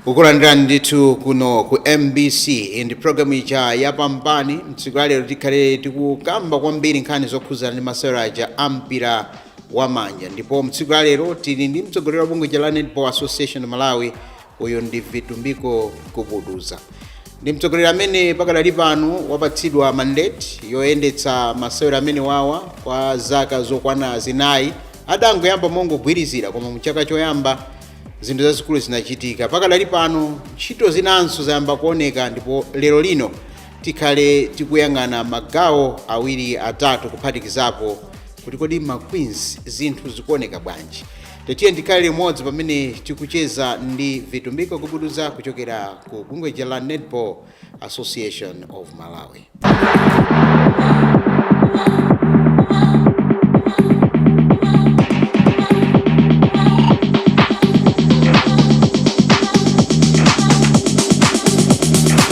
kukulandira ndithu kuno ku mbc ndi programu ija yapambani mtsiku ya lero tikhale tikukamba kwambiri nkhani zokhudzana ndi maseweraja ampira wa manja ndipo mtsiku la lero tili ndi mtsogoleri wa bungwe lija la netball association of malawi uyu ndi vitumbiko gubuduza ndi mtsogoleri amene pakadali pano wapatsidwa mandate yoyendetsa masewero amenewawa kwa zaka zokwana zinayi adangoyamba mongogwirizira koma mchaka choyamba zinthu zazikulu zinachitika pakadali pano ntchito zinanso zayamba kuoneka ndipo lero lino Tikhale tikuyang'ana magawo awiri atatu kuphatikizapo kuti kodi ma Queens zinthu zikuoneka bwanji. Tiyeni tikhale limodzi pamene tikucheza ndi Vitumbiko Gubuduza kuchokera ku bungwe lija la Netball Association of Malawi.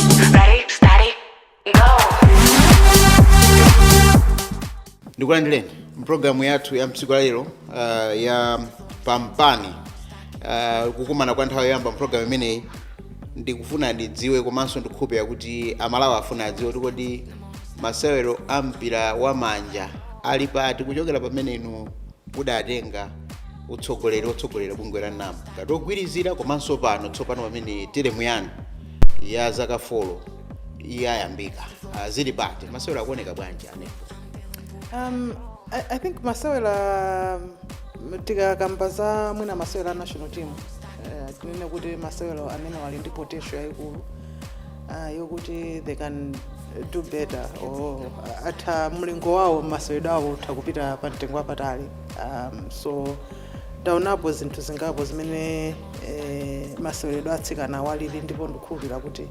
Ready, steady, go. ndikulandireni mpulogalamu yathu ya mtsiku lalero uh, ya pambani uh, kukumana kwa nthawi yoyamba mpulogalamu imeneyi ndikufuna ndidziwe komanso ndikukhulupirira kuti amalawi afuna adziwe kuti kodi masewero a mpira wa manja ali pati kuchokera pamene inu mudatenga utsogoleri otsogolera bungwe la NAM ngati ogwirizira komanso pano tsopano pamene teremu yanu ya zaka folo iye ayambika Ah, zili pati masewero akuoneka bwanji a netball Um, I, I think masewera um, tikakamba za mwina masewera a national team uh, tinene kuti masewero amenewa ali ndi potential yayikulu uh, yokuti they can do better or utha mlingo wawo masewero awo utha kupita pa mtengo wapatali um, so Taonapo zinthu zingapo zimene eh, maseweredwe a atsikana awa alili ndipo ndikukhulupirira kuti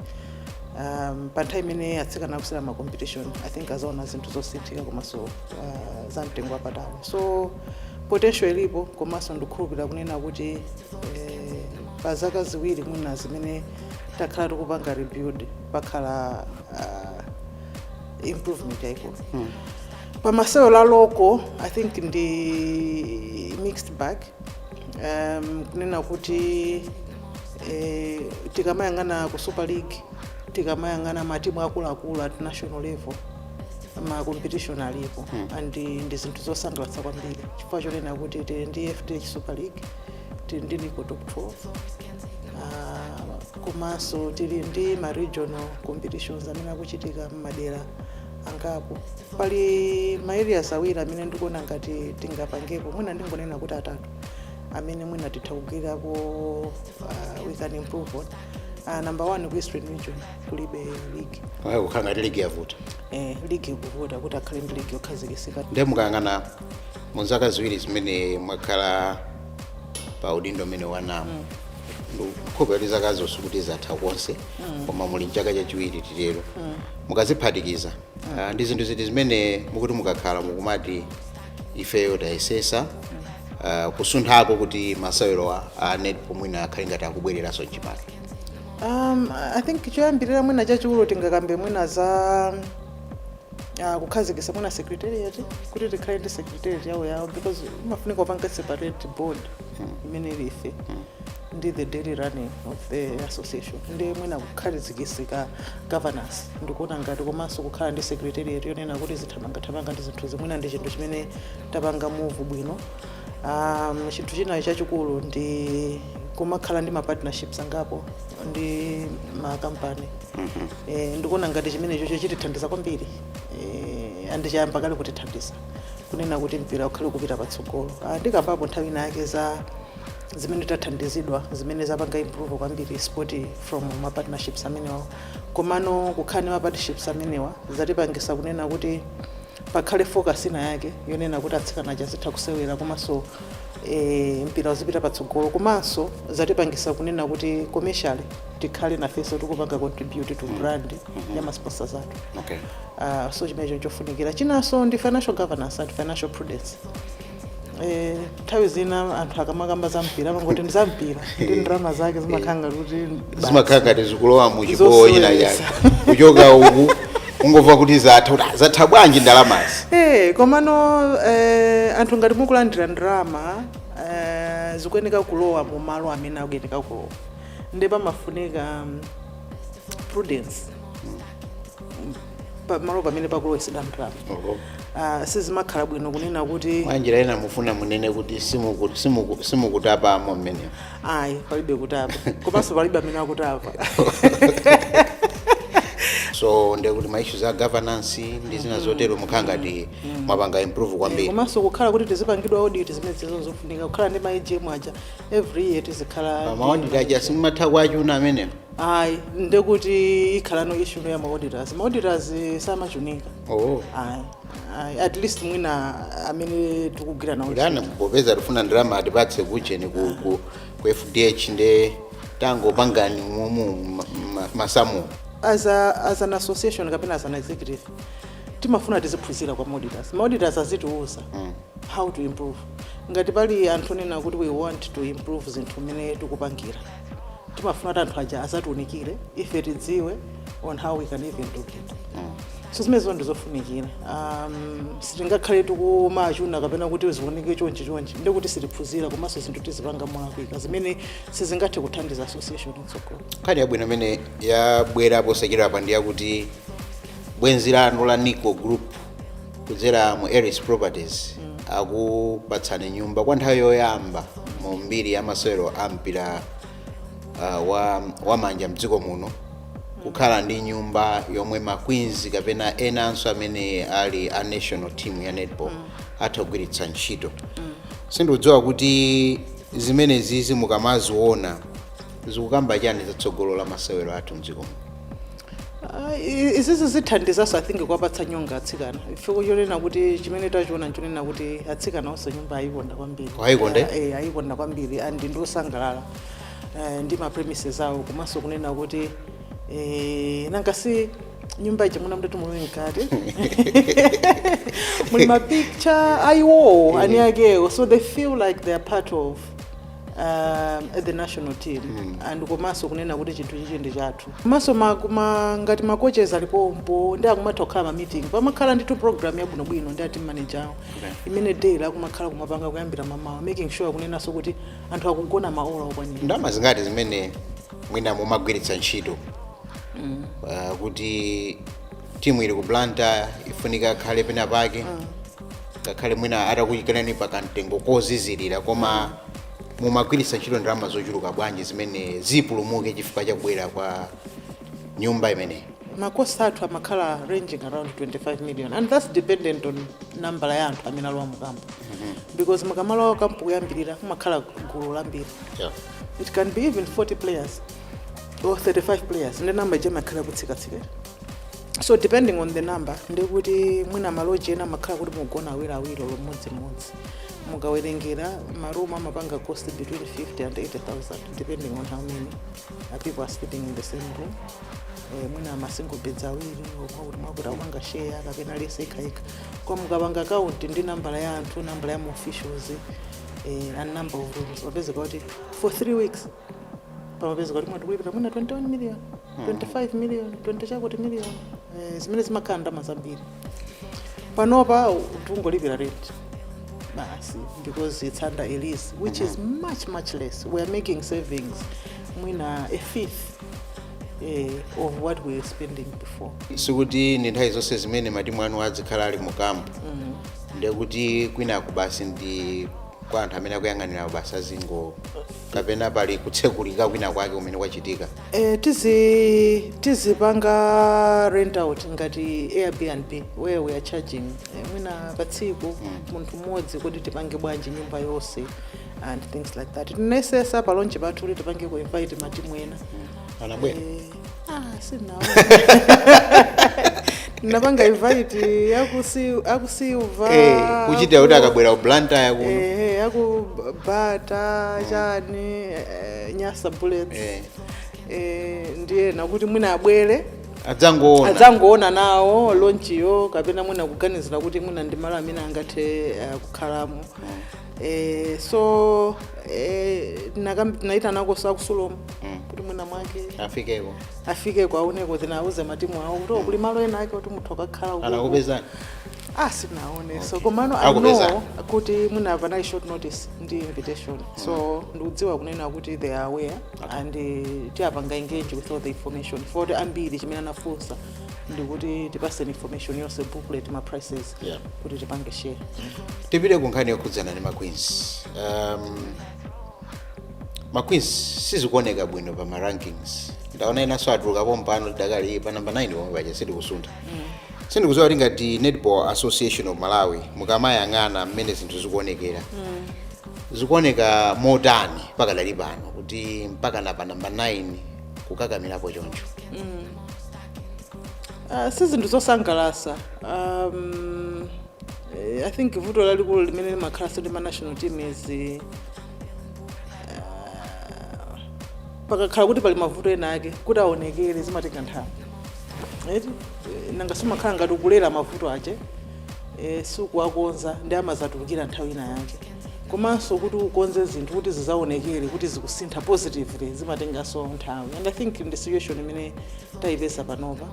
um, pa nthawi imene atsikana akusewera ma competition i think adzaona zinthu zosinthika komanso uh, za mtengo wapatali so potential ilipo komanso ndikukhulupirira kunena kuti eh, pa zaka ziwiri mwina zimene takhala tikupanga rebuild pakhala uh, improvement yayikulu pamasewero a local i think ndi mixed bag um, kunena kuti eh, tikamayang'ana ku super league tikamayang'ana matimu akuluakulu at national level ma competition alipo and eh, ndi zinthu zosangalatsa kwambiri chifukwa chonena kuti tili ndi fdh super league tili ndi nico top 12 Ah, komanso tili ndi ma regional competitions amene akuchitika mmadera angapo pali ma areas awiri amene ndikuona ngati tingapangepo mwina ndingonena kuti atatu amene mwina titha kugwirirapo uh, we can improve on uh, number one ku eastern region kulibe league Mwaneneratu kukhala ngati league yavuta eh, league kuvuta kuti akhale ndi league yokhazikisika nde mukayang'ana mu zaka ziwiri zimene mwakhala pa udindo umene wa nam i hope kuti zaka ziwirizo sikuti zatha konse koma muli mchaka chachiwiri titero mukaziphatikiza ah, ndi zinthu ziti zimene mukuti mukakhala mukumati ifeyo tayesesa ah, kusunthako kuti masewerowa a netball mwina akhale ngati akubwereranso mchimake um, i think choyambirira mwina chachikulu tingakambe mwina za uh, kukhazikisa mwina secretariat kuti tikhale ndi secretariat yawoyawo because imafunika upange separate board imene ili ife ndi the daily running of the association ndi mwina kukhazikitsika kwa governance ndikuona ngati komanso kukhala ndi secretariat yonena kuti zithamangathamanga ndi zinthu zina mwina ndi chinthu chimene tapanga move bwino um, chinthu chinanso chachikulu ndi kumakhala ndi mapartnerships angapo ndi makampani eh, ndikuona ngati chimenecho chikutithandiza kwambiri eh, and chayamba kale kutithandiza kunena kuti mpira ukhale kupita patsogolo Ah, ndikambapo nthawi inayake za zimene tathandizidwa zimene zapanga improve kwambiri sport from ma partnerships amenewa komano kukhala ndi ma partnerships amenewa zatipangisa kunena kuti pakhale focus ina yake yonena kuti atsikana aja azitha kusewera komanso eh, mpira uzipita patsogolo komanso zatipangisa kunena kuti commercially tikhale nafenso tikupanga contribute to brand ya masponsors athu okay. uh, so chimenecho chofunikira chinanso ndi financial governance and financial prudence Eh, nthawi zina anthu akamakamba za mpira amangoti ndi za mpira nde ndalama zake zimakhala ngati kuti basi. zimakhala ngati zikulowa mu chibowo china chake Zoseweza. kuchoka uku ungomva kuti zatha kuti "Ah, zatha bwanji ndalamazi Eh, komano eh, anthu ngati mukulandira ndalama eh, zikuyeneka kulowa mu malo amene akuyeneka kulowa nde pamafunika mm, prudence pamalo pamene pakulowetsedwa ndalama Oho. Ah, sizimakhala bwino kunena kuti mwa njira ina mufuna muname kuti simuku- simuku- simukutapamo mmenemo ayi palibe kutapa komanso palibe amene akutapa so ndekuti ma issues a governance ndi zina zotero mukhala ngati mwapanga improve kwambiri komanso kukhala kuti tizipangidwa audit zimenezizo zofunika kukhala ndi ma AGM aja every year tizikhala ma auditor aja simumatha kuwachuna amene ayi ndekuti ikhalano issue ina ya maauditors maauditors samachunika oh ayi ayi at least mwina amene tikugwira nawo nanga popeza tifuna ndalama atipatse kujeni ku, ku, ku FDH nde tangopangani momwe ma- ma- masamu as, a, as an association kapena as an executive timafuna tiziphunzira kwa maauditors maauditors azitiuza mm. how to improve ngati pali anthu onena kuti we want to improve zinthu mmene tikupangira timafuna kuti anthu aja azatiunikire ife tidziwe on how we can even do it so zimenezo ndizofunikira um, sitingakhale tikumawachuna kapena kuti zioneke chonchi chonchi ndi kuti sitiphunzira komanso zinthu tizipanga molakwika zimene sizingathe kuthandiza association mtsogolo nkhani yabwino imene yabwera posachedwa apa ndi yakuti bwenzi lanu la NICO group kudzera mu Eris Properties akupatsani nyumba kwa nthawi yoyamba mu mbiri ya masewero a mpira uh, wa, wa manja mdziko muno kukhala ndi nyumba yomwe ma Queens kapena enanso amene ali a national team ya netball atha kugwiritsa ntchito sindikudziwa kuti zimenezizi mukamaziona zikukamba chani zatsogolo la masewero athu mdziko muno Ah, i- izizi zithandizanso i think kuwapatsa nyonga atsikana chifukwa chonena kuti chimene tachiona nchonena kuti atsikana onse nyumba ayikonda kwambiri Ayikonda, eh? Eh, ayikonda kwambiri and ndiosangalala eh, ndi ma premises awo komanso kunena kuti eh, nanga si nyumba ija muna mkati muli mkati muli mapicture ayiwowo eni akewo so they feel like they are part of um, the national team mm. and komanso kunena kuti chinthu chichi ndi chathu komanso ma, ma, ngati macoaches alipompo ndi akumatha kukhala ma meeting pamakhala ndithu program yabwinobwino ndi a team manager awo okay. imene daily akumakhala kumapanga kuyambira mamawa making sure kunenanso kuti anthu akugona maola okwanira ndalama zingati zimene mwina mumagwiritsa ntchito mm. uh, kuti timu ili ku Blantyre ifunika akhale pena pake ngakhale mwina atakuyikaniko pa kamtengo kozizirira koma mumagwiritsa ntchito ndalama zochuluka bwanji zimene zipulumuke chifukwa cha kubwera kwa nyumba imeneyi ma cost athu amakhala ranging around 25 million and that's dependent on nambala ya anthu amene alowa mukampu because mukamalowa kampu kuyambirira kumakhala gulu lambiri yeah. it can be even 40 players or 35 players ndi namba ija imakhala kutsikatsika so depending on the number ndikuti mwina maloji ena amakhala kuti mugona awiri awiri olo mmodzimmodzi mukawerengera marumu amapanga cost between 50 and 80000 depending on how many uh, people are sleeping in the same room eh, mwina masingle beds awiri mwakuti mwakuti akupanga share kapena bedi yokhayokha mukapanga count ndi nambala ya anthu nambala ya maofficials eh, and number of rooms umapezeka kuti for three weeks timapeza kuti mwina ikupita mwina 21 million 25 million 20 yakuti million eh, zimene zimakhala ndalama zambiri panopa tungolipira rent basi because it's under a lease which is much much less we are making savings mwina a fifth eh, of what we were spending before sikuti ndi nthawi zonse zimene matimu anu azikhala ali mu kampu ndiye kuti kwinako basi ndi kwa anthu amene akuyang'anira basi azingo kapena pali kutsekulika kwina kwake kumene kwachitika Eh, tizi tizipanga rent out ngati airbnb where we are charging eh, mwina pa tsiku munthu mmodzi kodi tipange bwanji nyumba yonse and things like that tinayesetsa pa launch pathu kuti tipange ku invite matimu ena anabwera eh, Ah, sanabwere. Tinapanga invite akusi aku Silver. Eh, kuchitira kuti akabwera ku Blantyre kuno. Eh, aku bata chani eh, Nyasa Bullets. Eh. Eh, ndi ena kuti mwina abwere Adzangoona. adzangoona nawo lonchiyo kapena mwina kuganizira kuti mwina ndi malo amene angathe eh, kukhalamo eh, so eh, tinakam- tinaitanakonso aku Sulom Mm. kuti mwina mwake afikeko afikeko aoneko adzawauze matimu awo kuti kuli malo ena ake kuti mutha kukakhala uko. anakupezani ah sanaoneke so komano i Akupeza. know kuti mwina panali short notice ndi invitation so ndikudziwa kunena kuti they are aware and eh, tiwapanga engage with all the information poti ambiri chimene anafunsa ndikuti tipatseni information yonse booklet ma prices Yeah. kuti tipange share tipite ku nkhani yokhudzana ndi maqueens um, maqueens sizikuoneka bwino pa marankings ndaona enanso atuluka pompano tidakali pa namba 9 pomwe paja sitikusuntha sindikudziwa kuti ngati netball association of malawi mukamayang'ana mmene zinthu zikuonekera zikuoneka motani pakadali pano kuti mpaka na pa namba 9 kukakamirapo choncho Uh, si zinthu zosangalatsa um, eh, i think vuto lalikulu limene limakhalanso ndi ma national teams eh, pakakhala kuti pali mavuto ena ake kuti aonekere zimatenga nthawi eti eh, nanga simakhala ngati ukulera mavuto ache eh, osawakonza ndiye amadzatulukira nthawi ina yake komanso kuti ukonze zinthu kuti zizaonekere kuti zikusintha positively zimatenganso nthawi and i think ndi situation imene tayipeza panopa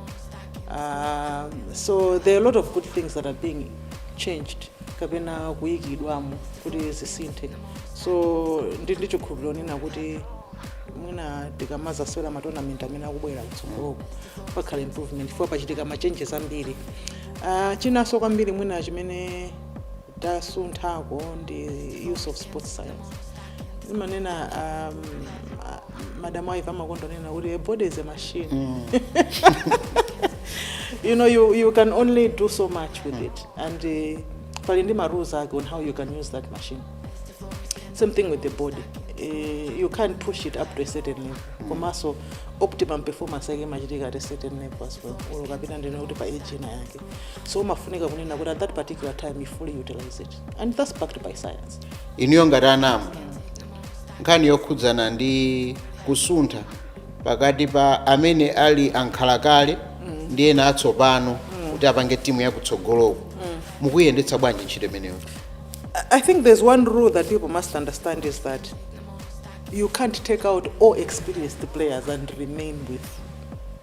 uh, so there are a lot of good things that are being changed kapena kuyikidwamo kuti zisinthe so ndi ndi chikhulupiriro kunena kuti mwina tikamazasewera matonamenti amene akubwera kutsogoloko pakhala improvement chifukwa pachitika ma changes zambiri uh, chinanso kwambiri mwina chimene tasunthako ndi use of sports science zimanena um, ah, madam aiva amakondonena kuti a body is a machine mm. you know you, you can only do so much with it and uh, pali ndi ma rules ake on how you can use that machine same thing with the body uh, you can't push it up to a certain level mm. komanso optimum performance yake imachitika at a certain level as well ulukapita ndine kuti pa age ina yake so umafunika kunena kuti at that particular time you fully utilize it and that's backed by science inuyo ngati a nam nkhani yokhudzana ndi kusuntha pakati pa amene ali ankhalakale ndi ena atsopano kuti apange timu yakutsogoloko mukuyendetsa bwanji ntchito imeneyo I- I think there's one rule that people must understand is that you can't take out all experienced players and remain with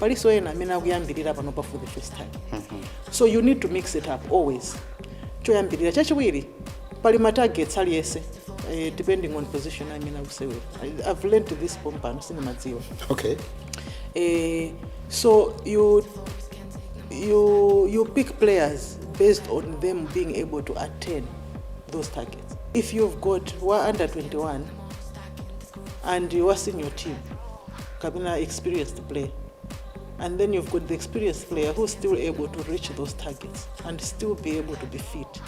palinso ena amene akuyambirira panopa for the first time so you need to mix it up always choyambirira chachiwiri pali ma targets aliyense eh, depending on position amene akusewera I- i've learned this pompano sindimadziwa okay Eh, so you you you pick players based on them being able to attain those targets. If you've got one under 21 and you are senior team, kapena experienced player and then you've got the experienced player who's still able to reach those targets and still be able to be fit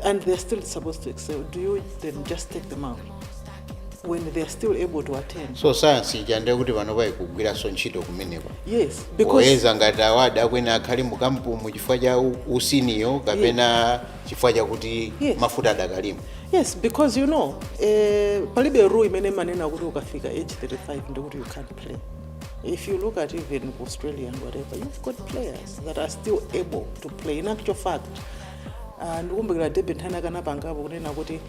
and they're still supposed to excel do you then just take them out when they're still able to attend so sayansi ija ndiye kuti panopa ikugwiranso ntchito kumeneko yes because oyeza ngati awa akuyenera akhale mukampumu chifukwa cha u- usiniyo kapena chifukwa chakuti Yes. mafuta adakalimo yes because you know eh, palibe rule imene imanena kuti ukafika age 35 ndikuti you can't play if you look at even ku australia and whatever you've got players that are still able to play in actual fact uh, ndikumbukira deb nthawi ina akanapangapo kunena kuti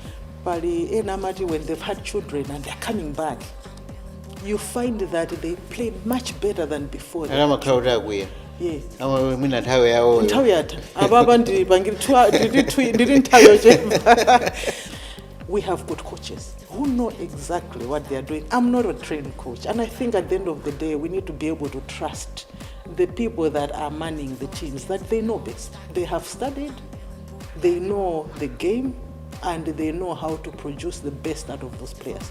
pali ena amati when they've had children and they're coming back you find that they play much better than before ana amakhala kuti akwiya yes Ama- mwina nthawi yawoyo nthawi yatha apapa ndiri pangiri ndiri nthawi yochepa we have good coaches who know exactly what they are doing i'm not a trained coach and i think at the end of the day we need to be able to trust the people that are manning the teams that they know best they have studied they know the game and they know how to produce the best out of those players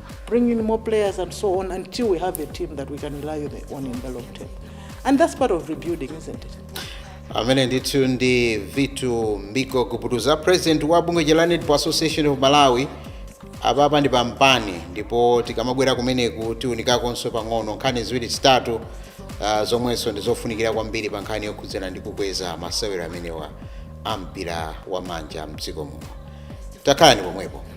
bring in more players and so on until we have a team that we can rely on in the long term. And that's part of rebuilding, isn't it? amene ndithu ndi vitumbiko gubuduza president wa bungwe la netball association of malawi apapa ndi pampani ndipo tikamabwera kumeneku tiunikakonso pang'ono nkhani ziwiri zitatu uh, zomwenso ndi zofunikira kwambiri pa nkhani yokhudzana ndi kukweza masewero amenewa a mpira wa manja mdziko muno takhalani pomwepo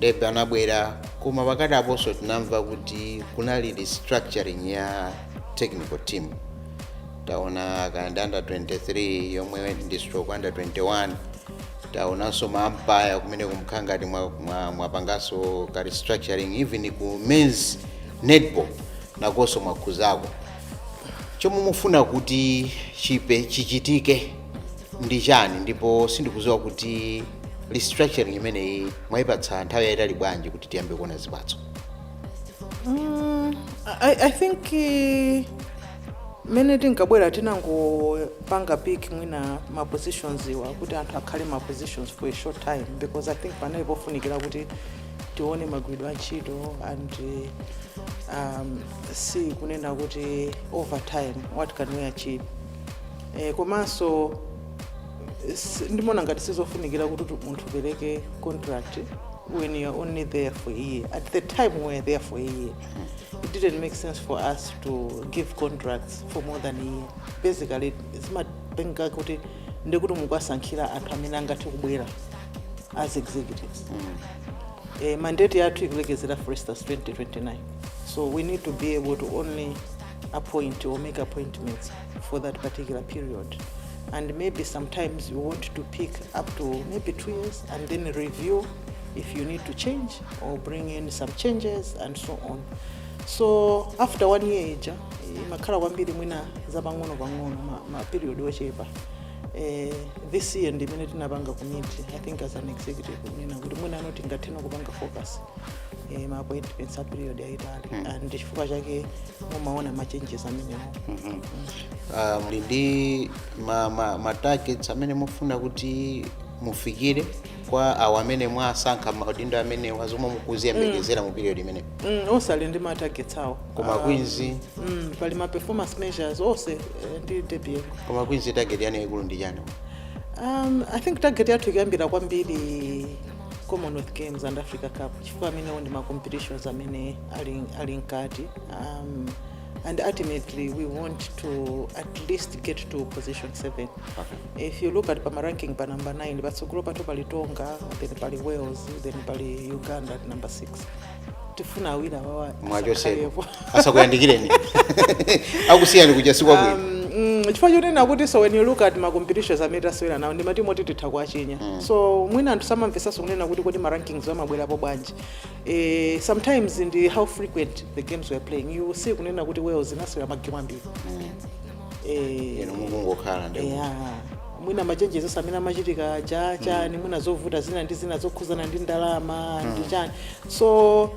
Deb anabwera koma pakatiponso tinamva kuti kunali restructuring ya technical team taona kaya ndi under 23 yomwe ndi stroke under 21 taonanso maampaya kumeneku mukhala ngati mwapanganso mwa, mwa ka restructuring even ku mens netball nakonso mwakhuzako chomwe mufuna kuti chipe chichitike ndi chani ndipo sindikudziwa kuti restructuring imeneyi mwayipatsa nthawi yayitali bwanji kuti tiyambe kuona zipatso mm, I, i think uh, mmene tinkabwera tinangopanga pick mwina ma positions awa kuti anthu akhale ma positions for a short time because i think panali pofunikira kuti tione magwiridwe a ntchito and um, si kunena kuti over time what can we achieve eh, komanso s- ndimaona ngati sizofunikira kuti tu- munthu upereke contract when you're only there for a year at the time we were there for a year it didn't make sense for us to give contracts for more than a year basically zimatheka kuti ndikuti mukuwasankhira anthu amene angathe kubwera as executives eh, mandate yathu ikulekezera for instance 2029 so we need to be able to only appoint or make appointments for that particular period. And maybe sometimes you want to pick up to maybe two years and then review if you need to change or bring in some changes and so on. So after one year ija imakhala kwambiri mwina zapang'ono pang'ono ma, ma period ochepa. Eh, this year ndi imene tinapanga commit I think as an executive kunena kuti mwina pano tingathe no kupanga focus eh, ma appointments a period yayitali and chifukwa chake mumaona ma changes amenewo Ah, muli ndi ma, ma, ma targets amene mufuna kuti mufikire kwa awo amene mwasankha maudindo amenewa zomwe mukuziyembekezera mu period imeneyo Mm, onse ali ndi ma targets awo koma Ah, queens mm, pali ma performance measures onse eh, ndi deputy koma queens target yanu yaikulu ndi chani um, i think target yathu ikuyambira kwambiri commonwealth games and africa cup chifukwa amenewo ndi ma competitions amene ali, ali mkati um, and ultimately we want to at least get to position 7 okay. if you look at pama ranking pa number 9 patsogolo pathu pali tonga then pali wales then pali uganda at number 6 tifuna awiri awa mwachoseni asakhalepo. asakuyandikireni akusiyani kuja si kwabwino Mm, chifukwa chonena kuti so when you look at macompetitions amene tasewera nawo ndi matimu oti titha kuwachinya so mwina anthu samamvesanso kunena kuti kodi marankings amabwerapo bwanji eh, sometimes ndi how frequent the games were playing you will see kunena kuti wales inasewera magemu ambiri Eh, inu mukungokhala ndi eya mwina ma changes amene amachitika aja chani mwina zovuta zina ndi zina zokhuzana ndi ndalama ndi chani so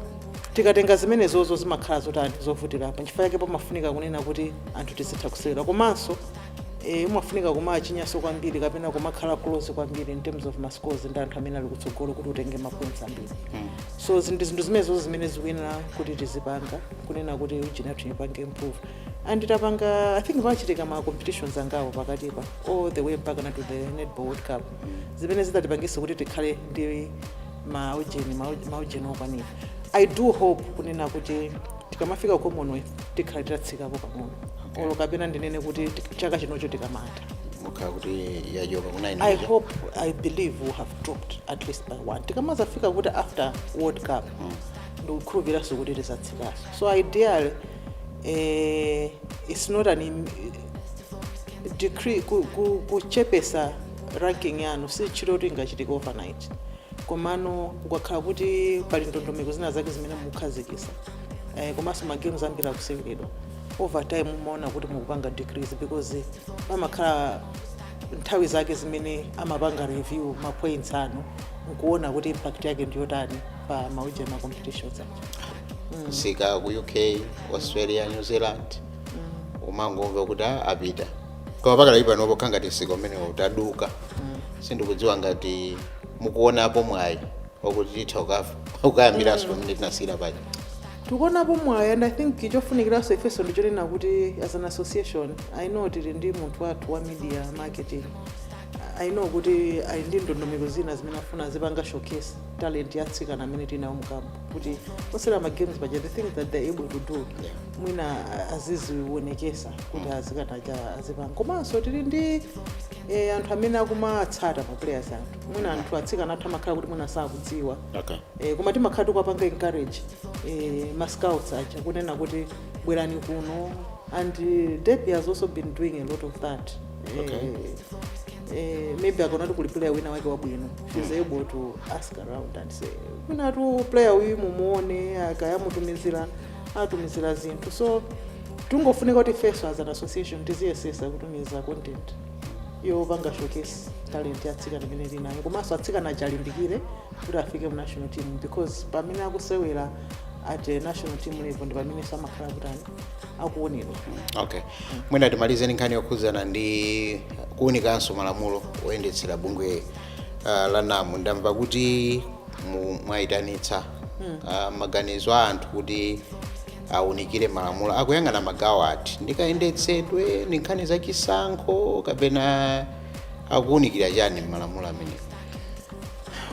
tikatenga zimenezozo zimakhala zotani zovutirapo nchifukwa chake pamafunika kunena kuti anthu tizitha kusewera komanso eh, umafunika kumachinyanso kwambiri kapena kumakhala close kwambiri in terms of mascores ndi anthu amene ali kutsogolo kuti utenge mapoints ambiri so zinthu zinthu zimenezozo zimene zikuyenera kuti tizipanga kunena kuti ujinatu ipange improve and tapanga i think pachitike ma competitions angapo pakatipa all the way mpaka na to the netball world cup zimene zizatipangisa kuti tikhale ndi maujeni maujeni okwanira i do hope kunena kuti tikamafika ku commonwealth tikhala titatsikapo pang'ono olo kapena ndinene kuti tik- chaka chinocho tikamata tikhala kuti yajoka kuna i i hope i believe we have dropped at least by one tikamazafika ku after world cup ndikukhulupiraso kuti tizatsikaso so ideally eh, it's not an im- decrease ku- ku- kuchepesa ranking yanu si tchito kuti ingachitike overnight komano ukakhala kuti pali ndondomeko zina zake zimene mukukhazikisa eh, komanso magames ambiri akuseweredwa over time umaona kuti mukupanga decrease because pamakhala nthawi zake zimene amapanga review mapoints anu nkuona kuti impact yake ndiyotani pa maujeni ma competitions anu msika ku uk australia new zealand umangomva kuti "Ah, apita koma pakadali pano pokha ngati msika umenewo udaduka sindikudziwa ngati mukuonapo mwayi okuti titha ukafa ukayambiranso pamene tinasiyira paja tikuonapo mwayi and i think chofunikiranso ifenso ndichonena kuti as an association i know tili ndi munthu wathu wa media marketing i know kuti ali ndi ndondomeko zina zimene afuna azipanga showcase talent ya atsikana amene tinawo nkhani kuti akusewera ma games paja the things that they're able to do mwina aziziwonekesa kuti atsikana aja azipanga komanso tili ndi eh, anthu amene akumatsata ma players athu mwina anthu atsikana athu amakhala kuti mwina sakudziwa okay eh, koma timakhala tikupanga encourage eh, ma scouts aja kunena kuti bwerani kuno and eh, Debbie has also been doing a lot of that eh, Okay. eh, maybe akaona kuti kuli player wina wake wabwino she's able to ask around and say mwinatu player uyu mumuone akati amutumizire atumizira zinthu so tingofunika kuti ifenso as an association tiziyesesa kutumiza content yopanga showcase talent ya atsikana imene tinayo komanso atsikana azilimbikira kuti afike mu national team because pamene akusewera at eh, national team level ndi pamenenso amakhala kutani akuonerwa okay mwina timalize ndi nkhani yokhudzana ndi kuunikanso malamulo oyendetsera bungwe uh, la nam ndamva kuti mu- mwayitanitsa uh, maganizo a anthu kuti aunikire malamulo akuyang'ana magawo ati ndikayendetsedwe ndi nkhani za chisankho kapena akuunikira chani m'malamulo amenewo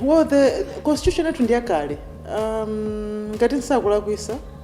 well the constitution yathu ndi yakale um, ngati nsakulakwisa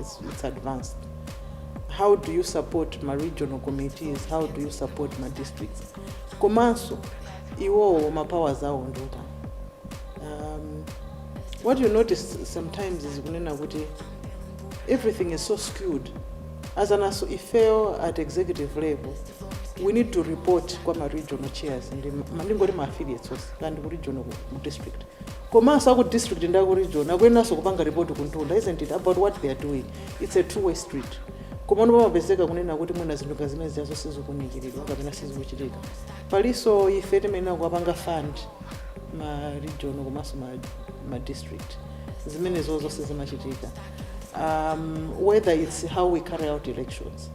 it's, it's advanced how do you support ma regional committees how do you support ma districts komanso iwowo ma powers awo ndota um, what you notice sometimes is kunena kuti everything is so skewed as an aso ifeyo at executive level we need to report kwa ma regional chairs ndi ma- ndingoti ma affiliates onse kandi ku regional ku district komanso aku district ndi aku region akuyeneranso kupanga report kumtunda isn't it about what they are doing it's a two way street komano pamapezeka kunena kuti mwina zinthu ngati zimene zijazo sizikunikiridwa kapena sizikuchitika palinso ife timayenera kuwapanga fund ma region komanso ma, ma district zimene zonse zimachitika um, whether it's how we carry out elections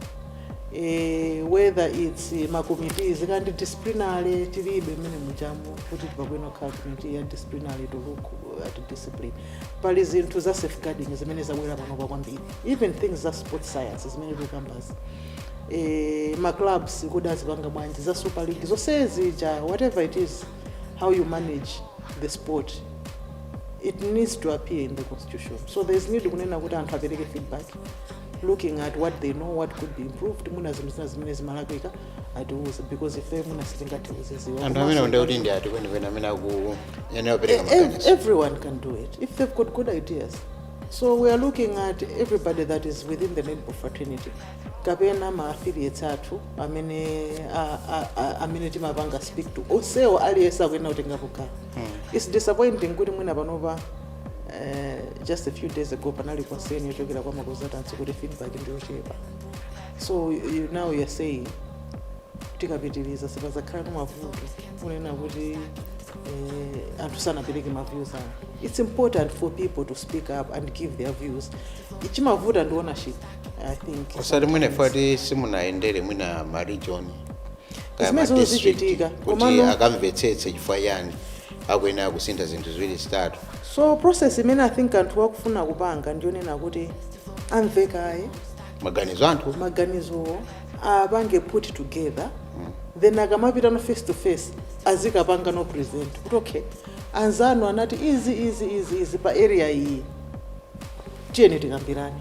eh, whether its eh, makomiti zikhala ndi disciplinary tilibe mmenemujamu kuti tipange kukhala komiti ya disciplinary to look at discipline pali zinthu za safeguarding zimene zabwera panopa kwambiri even things za sport science zimene tikukambazi eh, ma clubs kodi azipanga bwanji za super league zonse zija whatever it is how you manage the sport it needs to appear in the constitution so there is need kunena kuti anthu apereke feedback looking at what they know what could be improved mwina zinthu zina zimene zimalakwika atiuze because ife mwina sitingathe kuzidziwa anthu amene Komanso- ndiye kuti ndi ati kwenikweni amene akuyenera kupereka Ev- maganizo everyone can do it if they've got good ideas so we are looking at everybody that is within the netball fraternity kapena ma affiliates athu amene a- a- a- amene timapanga speak to onsewo aliyense akuyenera kutengapo gawo its disappointing kuti mwina panopa Eh, just a few days ago panali concern yochokera kwa makonsultants kuti feedback ndiyochepa so you, now you're saying tikapitiriza sipazakhala ndi mavuto kunena kuti eh, anthu sanapereke maviews awo it's important for people to speak up and give their views chimavuta ndi ownership i think osati mwina ife eti simunayendere mwina ma region kaya Zimene ma district zichitika, kuti komano- akamvetsetse chifukwa chani akuyenera kusintha zinthu ziwiri zitatu so process imene i think anthu akufuna kupanga ndiyonena kuti amve kaye maganizo anthu maganizowo apange put together then akamapita no face to face azikapanga no present kuti okay anzanu anati izi izi izi izi pa area iyi tiyeni tikambirane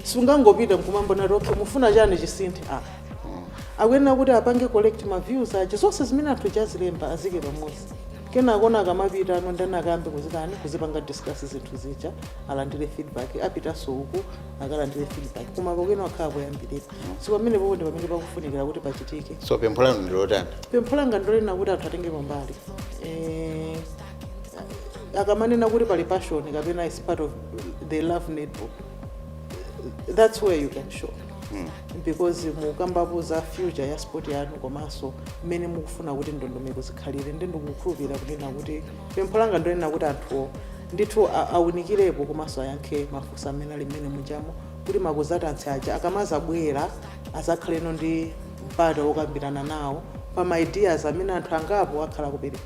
sungangopita nkumambonati okay mufuna chani chisinthe ah akuyenera kuti apange collect ma views aja zonse zimene anthu azilemba azike pamodzi kenakono akamapita ndi kuti akayambe kuzitani kuzipanga discuss zinthu zija alandire feedback apitanso uku akalandire feedback koma pakhale pali kuyambirira si pamenepopo ndi pamene pakufunikira kuti pachitike so pempho lanu ndilotani pempho langa ndi lonena kuti anthu atenge mbali Eh, akamanena kuti pali passion kapena is part of the love netball that's where you can show because mukambapo za future ya sport yanu komanso mmene mukufuna kuti ndondomeko zikhalire ndi ndikukhulupirira kunena kuti pempho langa ndonena kuti anthuwo ndithu a- awunikirepo komanso ayankhe mafunso amene ali mmene mujamo kuti ma consultants aja akamazabwera azakhalenso ndi mpata wokambirana nawo pa ma ideas amene anthu angapo akhala kupereka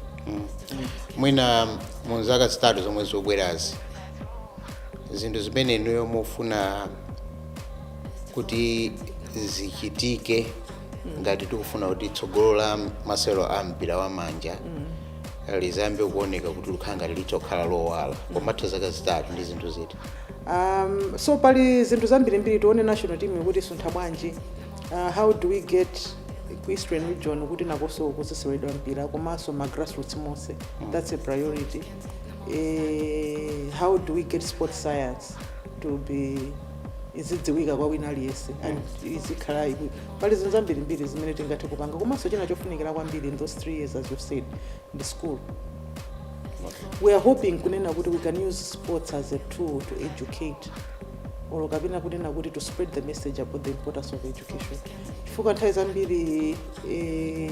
mwina mu zaka zitatu zomwe zikubwerazi zinthu zimene inuyo mufuna kuti zichitike ngati tikufuna kuti tsogolo la masewero a mpira wa manja lizayambe kuoneka kuti likhala ngati lizakhala lowala pomatha zaka zitatu ndi zinthu ziti um, so pali zinthu zambirimbiri tione national team kuti isuntha bwanji uh, how do we get ku eastern region kuti nakonso kuziseweredwa mpira komanso ma grassroots monse that's a priority eh, how do we get sport science to be izidziwika kwa wina aliyense and izikhala iku- pali zinthu zambirimbiri zimene tingathe kupanga komanso china chofunikira kwambiri in those three years as you've said ndi school we are hoping kunena kuti we can use sports as a tool to educate or kapena kunena kuti to spread the message about the importance of education chifukwa nthawi zambiri eh,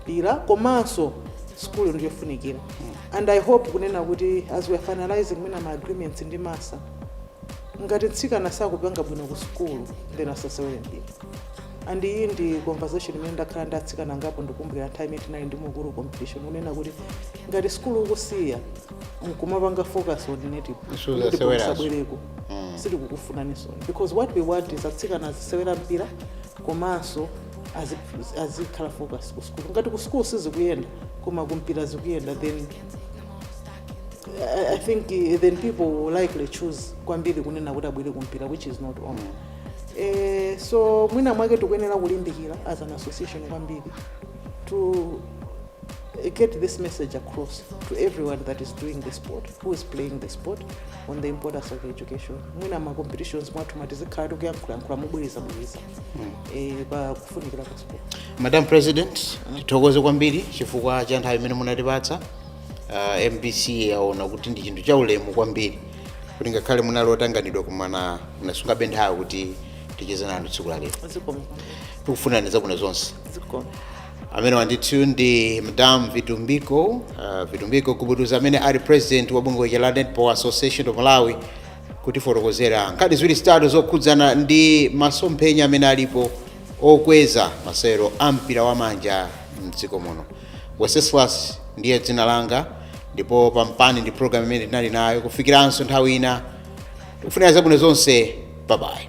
mpira komanso sukulu ndi chofunikira and i hope kunena kuti as we are finalizing mwina ma agreements ndi masa ngati mtsikana sakupanga bwino ku sukulu then asasewere mpira and iyi ndi conversation imene ndakhala ndi atsikana angapo ndikumbukira nthawi imene tinali ndi mukulu competition kunena kuti ngati sukulu ukusiya nkumapanga focus on native Issues ndipo zasewerazo. musabwereko sitikukufunanisoni because what we want is atsikana azisewera mpira komanso aziphunzi- azikhala focus ku school ngati ku school sizikuyenda koma kumpira zikuyenda then I, I think eh, then people will likely choose kwambiri kunena kuti abwere kumpira which is not wrong eh, so mwina mwake tikuyenera kulimbikira as an association kwambiri to eh, get this message across to everyone that is doing the sport who is playing the sport on the importance of education mwina ma competitions mwathumu tizikhala tikuyankhulayankhula mobwerezabwereza eh, pa kufunikira kwa sukulu madam president tithokoze kwambiri chifukwa cha nthawi imene munatipatsa uh, mbc yaona kuti ndi chinthu cha ulemu kwambiri kuti ngakhale munali otanganidwa koma munasungabe nthawi kuti ticheze nanu tsiku la lero zikomo tikufunirani zabwino zonse zikomo ameneyo ndithu ndi madam vitumbiko uh, vitumbiko gubuduza amene ali president wa bungwe la netball association of malawi kutifotokozera nkhani ziwiri zitatu zokhudzana ndi masomphenya amene alipo okweza masewero a mpira wa manja mdziko muno weseswas ndiye dzina langa ndi Popampani ndi programu imene tinali nayo kufikiranso nthawi ina tikufunira zabwino zonse babayi